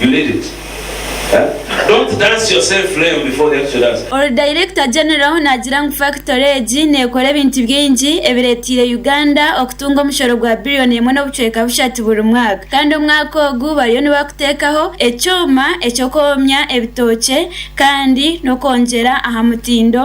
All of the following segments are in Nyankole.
You need it huh? Don't dance yourself flame before the actual answer. Ori Director General naagira ngu fakitore egi neekora ebintu bingi ebireeteire Uganda okutunga omushoro gwa biriyoni emwe n'obucweka bushatu buri mwaka kandi omwaka ogu bariyo nibakuteekaho ekyoma eky'okwomya ebitookye kandi n'okwongyera aha mutindo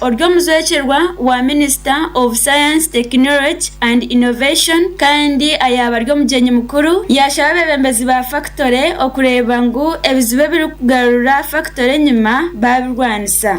Ori omujwekyerwa wa minister of science technology and innovation kandi ayaba ari omugyenyi mukuru yashaba abebembezi ba factory okureeba ngu ebizibu ebiri kugarura factory enyima babirwanisa.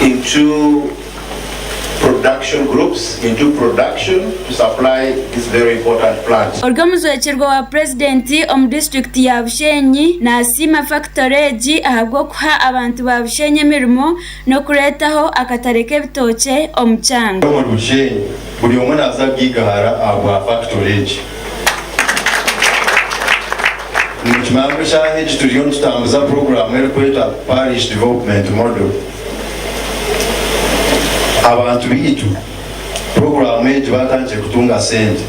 into production groups, into production to supply this very important plant. Ori omujwekyerwa wa Purezidenti omu disiturikiti ya Bushenyi nasiima fakitori egi ahabw'okuha abantu ba Bushenyi emirimo n'okureetaho akatare k'ebitookye omu kyanga. Omuri Bushenyi buri omwe naza gigahara ahabwa fakitori egi. Nimukimanya ngu eshaaha egi turiyo nitutambuza puroguraamu erikwetwa Parish Development Model. Abantu baitu puroguraamu egi baatandikire kutunga sente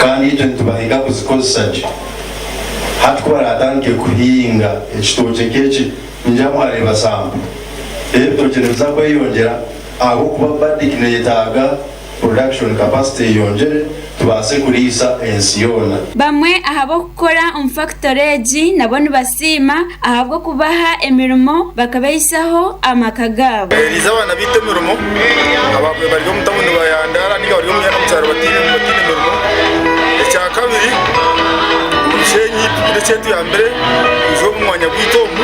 kandi itwe nitubahiga kuzikozesa gye. Hati ku baraatandike kuhinga ekitookye nk'eki, ningira mwareeba sampuru. Reero ebitookye nibiza kweyongyera ahabw'okuba Bardic neeyetaaga. production capacity eyongyere tubaase kuriisa ensi yoona. Bamwe aha b'okukora omu fakitori egi nabo nibasiima ahabw'okubaha emirimo bakabaisaho amaka gaabo. Bahereize abaana baitu emirimo abamwe bari omu tawuni bayandaara nainga bari omu myanya omu kyaro bataine mirimo. Ekya kabiri omu Bushenyi twine ekyetuyambire kwija omu mwanya gwaitu omu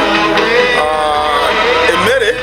emere.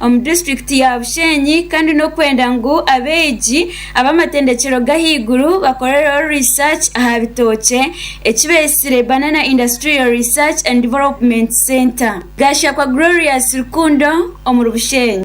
omu disiturikiti ya Bushenyi kandi n'okwenda ngu abeegi ab'amatendekyero g'ahaiguru bakorereho research aha bitookye eki beeitsire Banana Industrial Research and Development Centre, Gashakwa Glorious Rukundo, omuri Bushenyi.